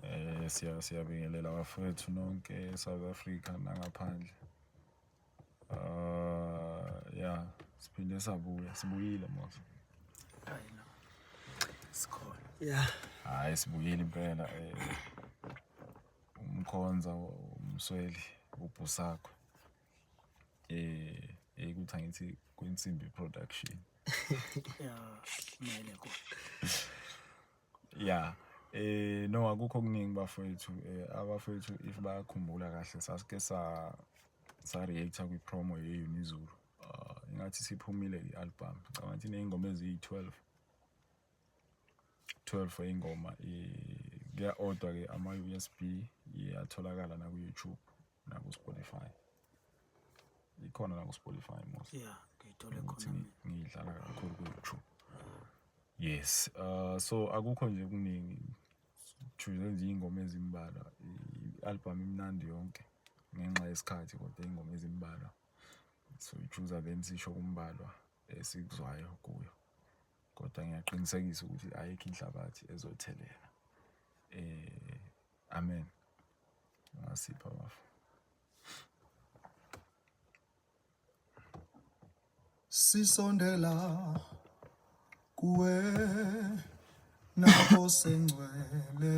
Eh siya siyabingelela bafethu nonke eSouth Africa nangaphandle. Ah yeah, siphinde sabuya, sibuyile mos. Hayi no. Sikhona. Yeah. Hayi sibuyile impela eh umkhonza umsweli ubhusakho. Eh ekuthi angithi kwensimbi production. Yeah, kumele kodwa. ya eh no akukho okuningi bafowethu eh, abafowethu if bayakhumbula kahle sasike sa sa react kwi promo ye Unizulu ah, ingathi siphumile i album ngicabanga ukuthi nezingoma eziyi 12 12 eyingoma eh, kuya order ke ama USB iyatholakala na ku YouTube naku Spotify ikhona naku Spotify most yeah ngiyithole khona ngiyidlala kakhulu ku YouTube yes uh so akukho nje kuningi choose nje ingoma ezimbalwa i-album imnandi yonke ngenxa yesikhathi kodwa ingoma ezimbalwa so choose then sisho kumbalwa esikuzwayo kuyo kodwa ngiyaqinisekisa ukuthi ayikho inhlabathi ezothelela eh Amen. Ungasipha bafo. Sisondela kuwe nakho sengcwele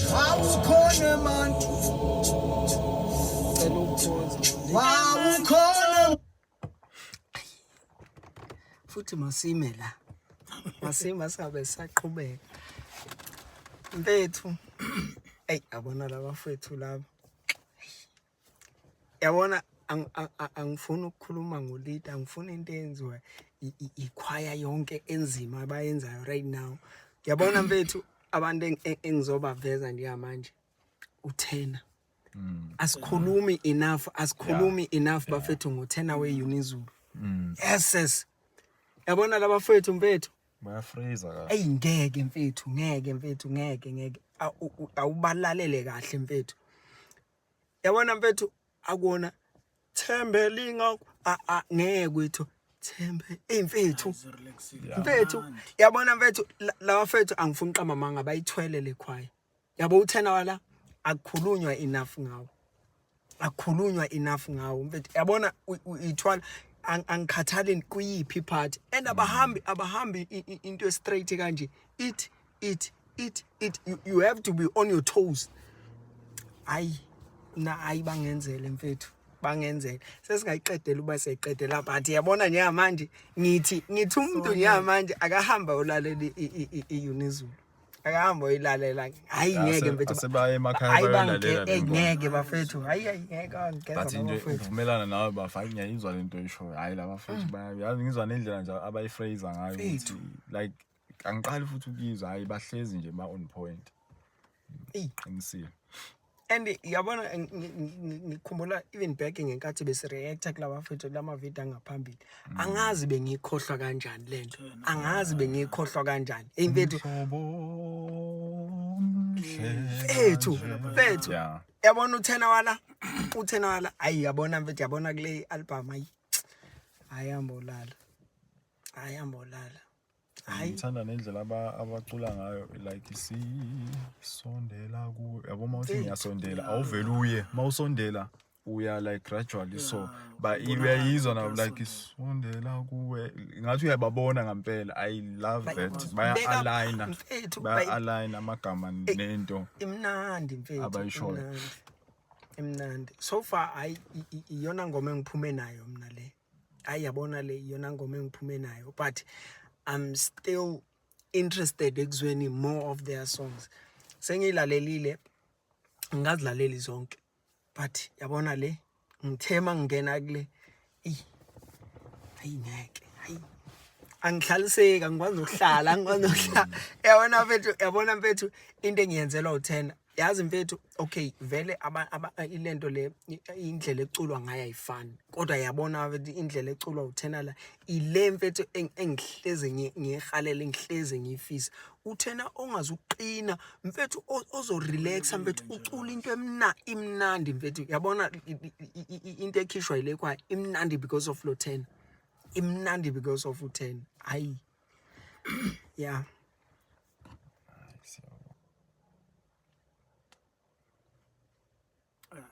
Wawukhona man. Wawukhona. Futhi masime la. Masima sabe saqhubeka. Mfethu. Ey abona laba mfethu laba. yabona angifuni ukukhuluma ngolida angifuni into eyenziwa ikhwaya yonke enzima abayenzayo right now yabona mfethu abantu engizobaveza njengamanje uthena mm. asikhulumi enough asikhulumi enough bafethu ngothena weunizulu mm. yes yes yabona laba fethu mfethu bayafreeza kahle ayi ngeke mfethu ngeke mfethu ngeke ngeke awubalalele kahle mfethu yabona mfethu akona thembe linga a a ngeke kwethu thembe imfethu mfethu yabona mfethu lawa mfethu angifuni qama manga bayithwele lekhwaya yabo uthena wala akukhulunywa enough ngawo akukhulunywa enough ngawo mfethu yabona uyithwala angikhathali kuyiphi part and abahambi abahambi into straight kanje ithi it it it you, you have to be on your toes hayi na hayi bangenzele mfethu bangenzele sesingayiqedela uba siyayiqedela but yabona njengamanje ngithi ngithi umuntu njengamanje akahamba olalela i-unizulu akahamba oyilalela hayi ngeke mfethu asebaye emakhaya hayi bangeke ngeke bafethu hayi hayi ngeke angikeza bathi nje uvumelana nawe bafa hayi ngiyayizwa lento oyishoyo hayi laba futhi mm. bayazi ngizwa nendlela nje abayifraser ngayo ukuthi like angiqali futhi ukuyizwa hayi bahlezi nje ma on point qinisile and yabona ngikhumbula even back ngenkathi besireacta kulawa fethu lama video angaphambili mm. angazi bengikhohlwa kanjani lento angazi bengikhohlwa kanjani hey mfethu fethu fethu yabona uthena wala uthena wala ayi yabona mfethu yabona kule album ayi ayambolala ayambolala Hayi. ngithanda nendlela aba- abacula ngayo like sisondela kuwe yabo uma uthi Eyi, ngiyasondela yeah. awuvele uye uma usondela uya like gradually so Yeah, ba- ubonakala uyayizwa ukuthi nabo like uyasondela. sondela kuwe ngathi uyababona ngampela i love Bayi- that Beka baya-aligna mfethu, bayi- baya-aligna amagama nento imnandi mfethu Abayishoyo. imnandi. imnandi so far hayi i- i- iyona ngoma engiphume nayo mina le hayi yabona le iyona ngoma engiphume nayo but i'm still interested ekuzweni more of their songs sengiyilalelile ngazilaleli zonke but yabona le ngithe uma ngingena kule eyi hayi ngeke hayi angihlaliseki angikwazi nokuhlala angikwazi nokuhlala yabona mfethu yabona mfethu into engiyenzelwa uthena yazi mfethu okay vele ilento le indlela eculwa ngayo ayifani kodwa yabona indlela eculwa uthena la ile mfethu engihleze ngihalele ngihleze ngifisa uthena ongazi uqina mfethu ozorelaxa mfethu ucula into emna imnandi mfethu yabona into ekhishwa ile kwa imnandi because of lothena imnandi because of uthena hayi yeah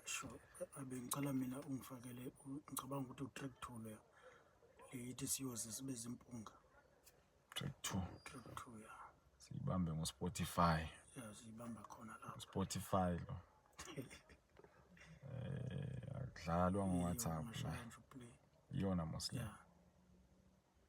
sho abengicela mina ungifakele ngicabanga ukuthi utrack two leyo leyithi siyoze sibe zimpunga track two track two ya siyibambe ngo-spotify ya siyibamba khona lapho spotify lo eh akudlalwa ngo-whatsapp la iyona mosle yeah.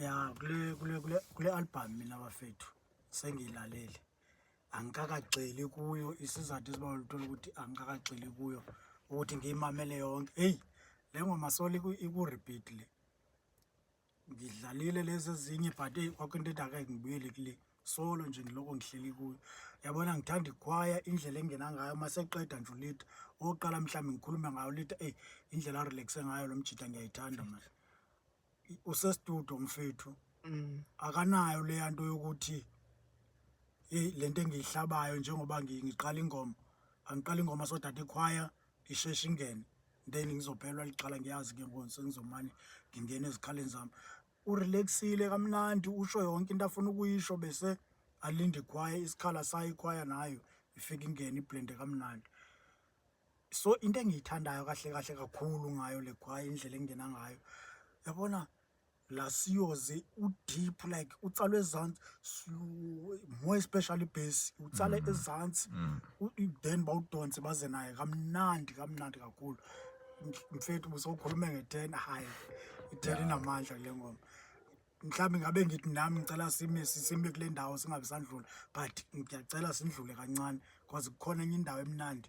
ya kule kule kule kule album mina bafethu sengilalele angikakagxili kuyo isizathu esibalula uthola ukuthi angikakagxili kuyo ukuthi ngiyimamele yonke hey le ngoma soli iku repeat le ngidlalile lezi ezinye but eyi kwakho into edaka ngibuyele kule solo nje ngiloko ngihleli kuyo yabona ngithanda ikhwaya indlela engena ngayo uma seqeda nje ulitha oqala mhlawumbe ngikhulume ngayo ulitha eyi indlela arelaxe ngayo lo mjita ngiyayithanda manje usestudio mfethu mm. akanayo leya nto yokuthi eyi le nto engiyihlabayo njengoba ngiqala ingoma angiqala ingoma sodade ikhwaya isheshe ingene then ngizophelwa liqala ngiyazi ke ngoku sengizomane ngingena ezikhaleni zami urelaxile kamnandi usho yonke into afuna ukuyisho bese alinde ikhwaya isikhala sayo ikhwaya nayo ifike ingene iblende kamnandi so into engiyithandayo kahle kahle kakhulu ngayo le khwaya indlela engingena ngayo yabona la siyoze udeep like utsala ezansi slow, more especially bass utsala ezansi u- then bawudonse baze naye kamnandi kamnandi kakhulu Mf- mfethu busowukhulume nge-ten hayi i-ten inamandla kule ngoma mhlawumbe ngabe ngithi nami ngicela sime si- sime kule ndawo singabe sandlula but ngiyacela sindlule kancane because kukhona enye indawo emnandi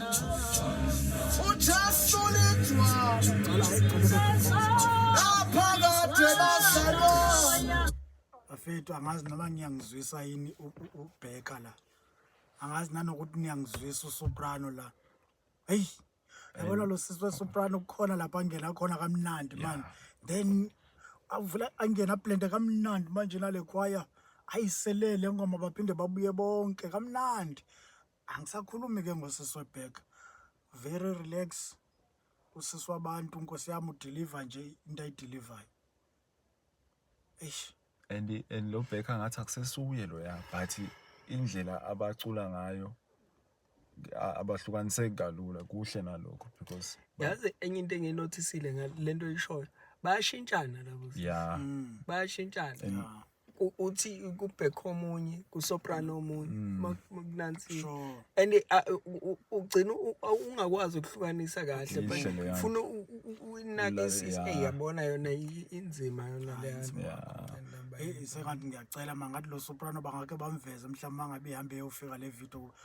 bafethu angazi noma ngiyangizwisa yini ubheka la angazi nanokuthi niyangizwisa usoprano la heyi yabona lo sisi wesoprano kukhona lapho angena khona kamnandi mani then avula angena blende kamnandi manje nale khwaya ayiselele ngoma baphinde babuye bonke kamnandi angisakhulumi ke ngosisi webheka very relax usisi wabantu nkosi yami udeliver nje into ayidelivayo eish and and lo bheka ngathi akusesuye lo ya but indlela abacula ngayo abahlukaniseki kalula kuhle nalokho because yazi enye into enginothisile ngalento oyishoyo bayashintshana labo yeah mm. bayashintshana u- uthi kubhekho omunye kusoprano omunye Mm. ma- ma kunansi Sure. and uh, u- u- ugcina u- u- ungakwazi ukuhlukanisa kahle Yishe but leyana. ufuna u- u- u- uyinake Ula- isisi yeah. eyi yabona yona i- inzima yona leyana Yeah. Hey, sengathi ngiyacela mangathi lo soprano bangake bamveze mhlawumbe mangabe ihambe eyofika le video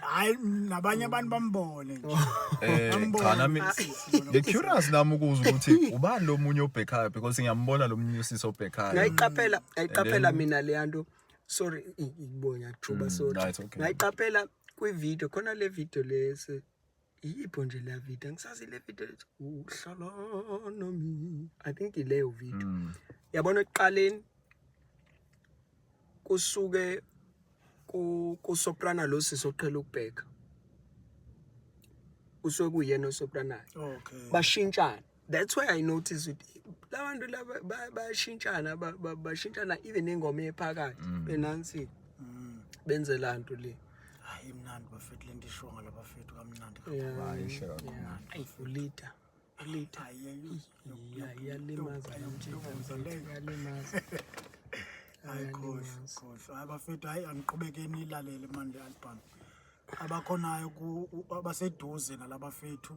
hayi nabanye abantu bambone nje Eh, Bambone. cha nami the curious nami ukuza ukuthi ubani lo munye obhekhayo because ngiyambona lo munye usisi obhekhayo ngayiqaphela ngayiqaphela then- mina leya nto sorry i- i- bonya thuba sorry no, it's okay. ngayiqaphela kwi-video khona le video lesi Iyipho nje la video ngisazi le video ethi uhlala nami. I think ileyo video. Mm. Yabona ekuqaleni kusuke ku kusoprana lo sisi oqhela ukubheka. Usuke kuyena osopranayo. Okay. Bashintshana. that's why i notice ukuthi labantu laba bayashintshana bashintshana even ingoma ephakathi mm. benansi mm. benze lanto le hayi mnandi bafethu lento ishiwo ngala bafethu kamnandi kakhuluayishe kakhuluulita ulita yalimaza yalimaza hayi khohle khohle hayi bafethu hayi angiqhubekeni ilalele manje album abakhonayo abaseduze nalabafethu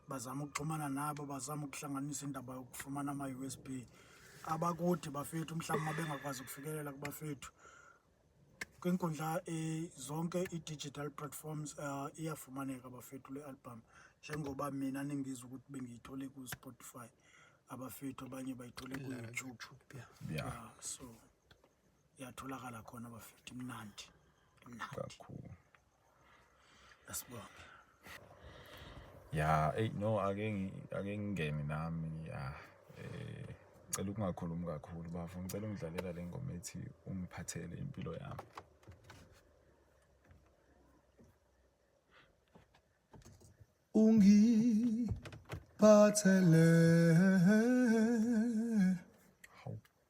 bazama ukuxhumana nabo bazama ukuhlanganisa indaba yokufumana ama-usb abakude bafethu mhlawumbe uma bengakwazi ukufikelela kubafethu kwinkundla eh, zonke i-digital platforms uh, iyafumaneka bafethu le album njengoba mina ningizwa ukuthi bengiyithole ku-spotify abafethu abanye bayithole ku-youtube yeah. yeah. uh, so iyatholakala khona bafethu imnandi imnandi kakhulu asibonge ya ey no ake ake ngingene nami ya eh cela ukungakhulumi kakhulu bafo ngicela ungidlalela le ngoma ethi ungiphathele impilo yami ungiphathele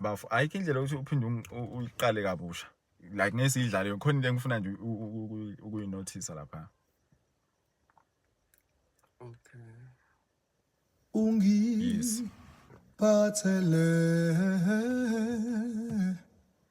bafo ayikho indlela ukuthi uphinde uyiqale kabusha like ngeke siyidlale khona into engifuna nje ukuyinothisa lapha okay ungiphathele yes.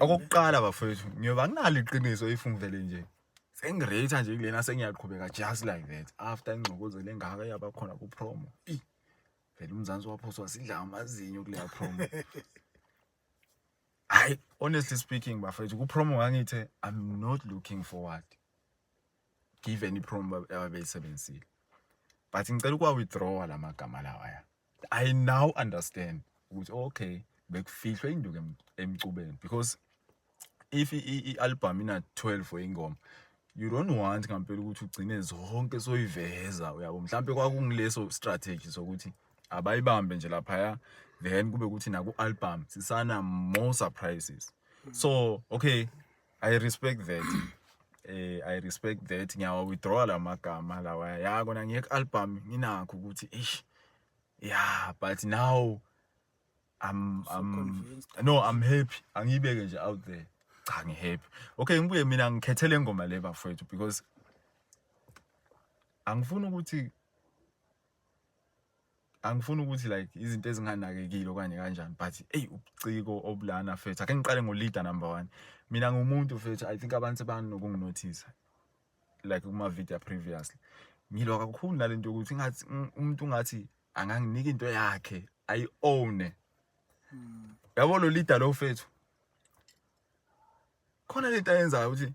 okokuqala bafowethu ngiyoba nginalo iqiniso if ngivele nje sengirate nje kulena sengiyaqhubeka just like that after ingxokozelo engaka yaba khona ku promo vele umzansi waphoswa sidla amazinyo kuleya promo hayi honestly speaking bafowethu ku promo ngangithe i'm not looking forward given i-prom ababeyisebenzisile but ngicela ukuwa-withdrawa la magama lawaya i now understand ukuthi okay bekufihlwe induku emcubeni because if i-album ina-12 weyingoma you don't want ngampela ukuthi ugcine zonke soyiveza uyabo mhlawumbe kwakungileso strategy sokuthi abayibambe nje laphaya then kube ukuthi naku-album sisana more surprises so okay I respect that. Eh I respect that ngiyawa withdraw la magama lawa. Ya kona ngeke album nginakho ukuthi eish. Yeah, but now I'm so I'm convinced. no I'm happy. Angiyibeke nje out there. Cha ngihappy. Okay ngibuye mina ngikhethele ingoma le bafowethu because angifuni ukuthi angifuni ukuthi like izinto ezinganakekile okanye kanjani but eyi ubuciko obulana fethu ake ngiqale ngo-leader number one mina ngumuntu fethu i think abantu sebanokunginothisa like kuma-video previously ngilwa kakhulu nale nto yokuthi ngathi umuntu ungathi anganginika into yakhe ayi-owne hmm. yabo lo leader lo fethu khona lento ayenzayo ukuthi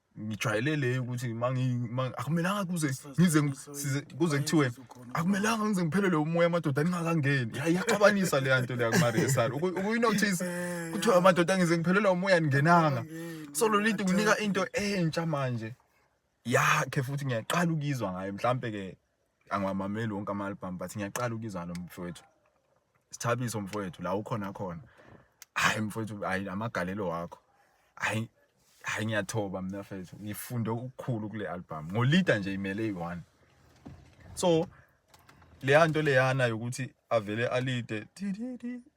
ngijwayele le ukuthi akumelanga kuze ngize kuze kuthiwe akumelanga ngize ngiphelelwe umoya amadoda ningakangeni iyaxabanisa leya nto leya kumaresari ukuyinothisa kuthiwa amadoda ngize ngiphelelwa umoya ningenanga so lo linto kunika into entsha manje yakhe futhi ngiyaqala ukuyizwa ngayo mhlampe-ke angiwamameli wonke ama-album but ngiyaqala ukuyizwa lo mfowethu sithabiso mfowethu la ukhona khona hayi mfowethu hayi amagalelo wakho hayi hayi ngiyathoba mina mfowethu ngifunde ukukhulu kule album ngolida nje imele eyi-one so leya nto leyana yokuthi avele alide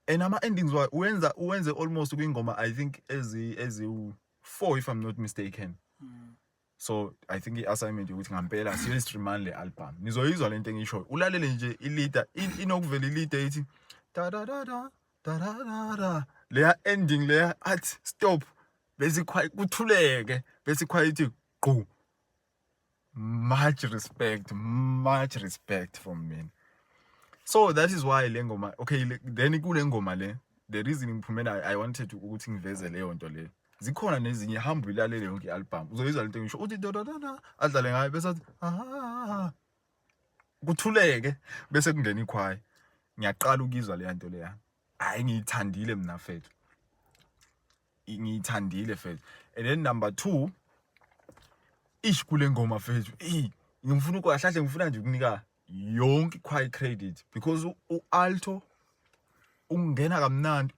and ama-endings wayo uwenza uwenze almost kwingoma i think eziwu-four if i'm not mistaken mm. so i think i-assignment yokuthi ngampela siyoyistreamani le album nizoyizwa le nto engishoyo ulalele nje ilida inokuvela ilida ithi dadadada dadadada leya ending leya athi stop bese kuthuleke bese ikhwayithi gqu much respect much respect from me so that is why le ngoma okay then kule ngoma le the reason ngiphumela i wanted ukuthi ngiveze leyo nto leyo zikhona nezinye hamba uyilalele yonke i-album uzoyizwa lento ngisho uthi dododona adlale ngayo bese athi aha kuthuleke bese kungena ikhwayi ngiyaqala ukuyizwa leya nto leya hayi ngiyithandile mina fethu ngiyithandile fethu and then number 2 ish kule ngoma fethu ngifuna ukwahlahle ngifuna nje ukunika yonke i-quiet credit because u-alto ungena kamnandi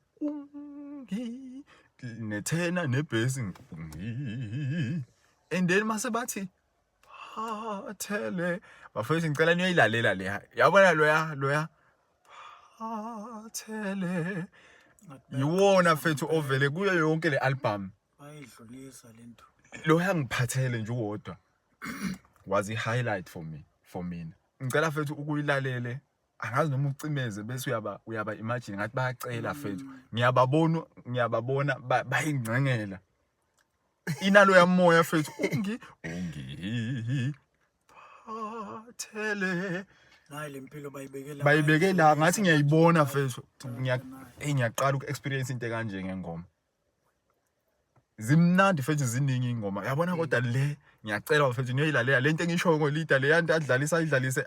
nethena nebhesi and then mase bathi phathele bafethu ngicela niyoyilalela le yabona loya loya phathele yiwona fethu ovele kuyo yonke le album bayidlulisa lento loya ngiphathele nje uwodwa was i-highlight for me for mina ngicela fethu ukuyilalele angazi noma ucimeze bese uyaba uyaba imagine ngathi bayacela fethu ngiyababona ngiyababona bayingcengela inalo yamoya fethu ungi ungi phathele nayi lempilo bayibekela bayibekela ngathi ngiyayibona fethu ngiyaqala uku-experience into kanje ngengoma zimnandi mfethu ziningi ingoma yabona kodwa le ngiyacela mfethu niyoyilalela lento engishoyo ngolida le yanto adlalisa ayidlalise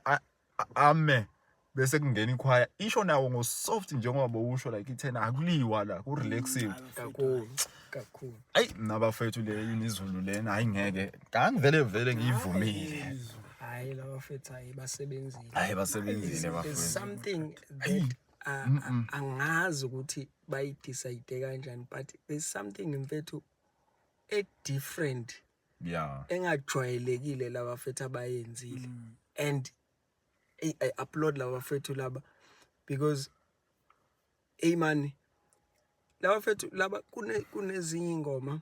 ame bese kungena ikhwaya isho nawo ngo soft njengoba bowusho like ithena akuliwa la ku relaxing mm, kakhulu kakhulu ayi nabafethu le inizulu lena hayi ngeke ngangivele vele ngiyivumile hayi labafethu hayi basebenzile hayi basebenzile bafethu something that angazi ukuthi bayidecide kanjani but there's something mfethu e different yeah engajwayelekile laba fethu abayenzile mm. and I, I upload laba fethu laba because hey man laba fethu laba kune kunezinye ingoma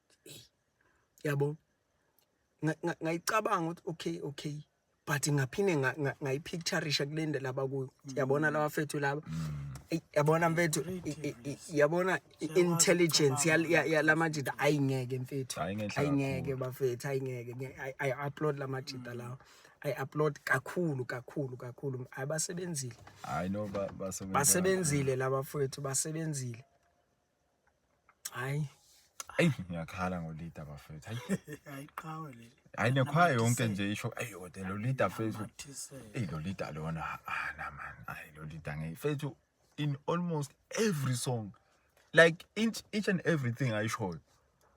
yabo ngayicabanga ukuthi okay okay but ngaphinde ngayipicturisha kule nto laba kuyo yabona mm. laba fethu laba mm. yabona mfethu yabona intelligence yala majita ayingeke mfethu ayingeke bafethu ayingeke ayi-upload la majita lawo ayi-upload kakhulu kakhulu kakhulu ayi basebenzile basebenzile laba fethu basebenzile Hayi. Ayi ngiyakhala ngo leader bafethu. Hayi. Hayi qhawe leli. Hayi nekhwaya yonke nje isho ayi kodwa lo leader fethu. Ey lo leader lona ah na man. Ayi lo leader ngeke fethu in almost every song like each, each and everything ayishoyo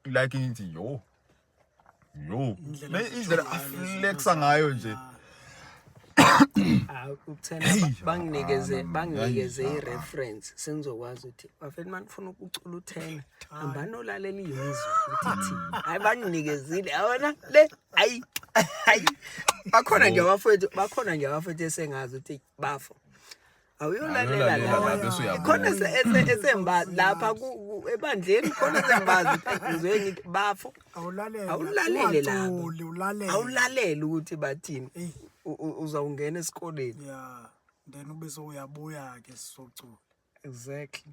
like ngithi yo yo Indlela Le- indlela azithola ngayo aflexa lezi ngayo nje Ah, Ah, ukuthena Hey, ba- banginikeze ah, banginikeze hayi, i-reference sengizokwazi ukuthi bafethu uma nifuna ukucula uthena hambani olalela iyizwe ukuthi thi hayi banginikezile yabona le hayi hayi bakhona nje abafowethu bakhona nje abafowethu esengazi ukuthi bafo awuyolalela khona esemba lapha ebandleni khona esembazi ngizwe ngithi bafo awulalele lapho awulalele ukuthi bathini uzawungena esikoleni ya then ube sowuyabuya-ke sizocula exactly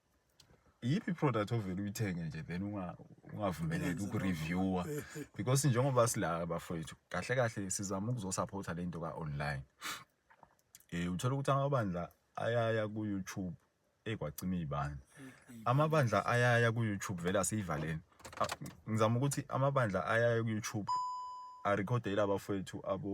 iyiphi product ovele uyithenge nje then ungavumeleki ukureviewer because njengoba sila bafowethu kahle kahle sizama ukuzosupporta le nto ka-online um uthole ukuthi amabandla ayaya ku-youtube ekwacima iy'bani mm-hmm. amabandla ayaya ku-youtube vele asiyivaleni ngizama ukuthi amabandla ayaya ku-youtube arekhodele abafowethu abo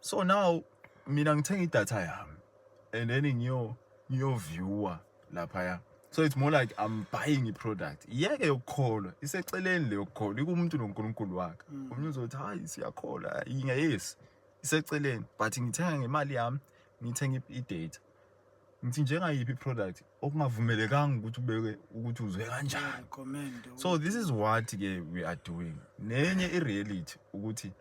so now mina ngithenga idatha yami and then ngiyo ngiyo viewer lapha ya so it's more like i'm buying a product iyeke yokukholwa iseceleni le yokukholwa ikumuntu noNkulunkulu wakhe mm. omunye uzothi hayi siyakholwa yinga yes iseceleni but ngithenga ngemali yami ngithenga i-data ngithi njengayiphi product okungavumelekanga ukuthi ubeke ukuthi uzwe kanjani so this is what ke we are doing nenye i-reality ukuthi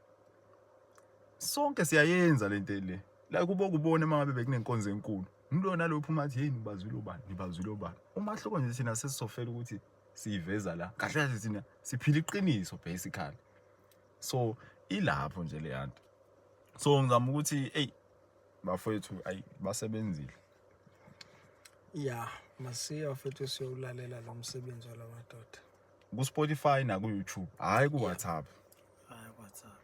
Sonke siyayenza lento le. La kubo kubona uma ngabe bekunenkonzo enkulu. Ngilona lophu uma athi hey nibazwile ubani, nibazwile ubani. Umahluko nje thina sesizofela ukuthi siyiveza la. Kahle kahle thina siphila iqiniso basically. So ilapho nje le yanto. So ngizama ukuthi hey bafowethu ayi basebenzile. Yeah, masiya futhi siyowulalela lo msebenzi wala madoda. ku Spotify na ku YouTube hayi ku WhatsApp hayi ku WhatsApp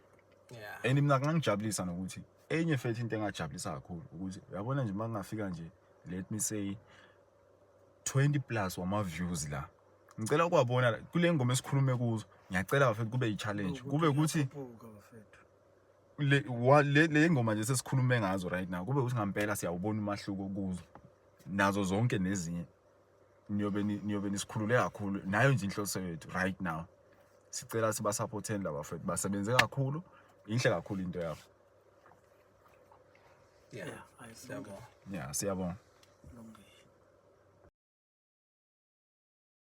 yeah and mina kungangijabulisa nokuthi enye fethi into engajabulisa kakhulu ukuthi uyabona nje makungafika nje let me say 20 plus wama views la ngicela ukwabona kule ngoma esikhulume kuzo ngiyacela bafethu kube i-challenge kube ukuthi le le le ngoma nje sesikhulume ngazo right now kube ukuthi ngampela siyawubona umahluko kuzo nazo zonke nezinye niyobe niyobe nisikhulule kakhulu nayo nje inhloso yethu right now sicela sibasupporteni laba fethu basebenze kakhulu inhle kakhulu into yabo yeah siyabonga yeah siyabonga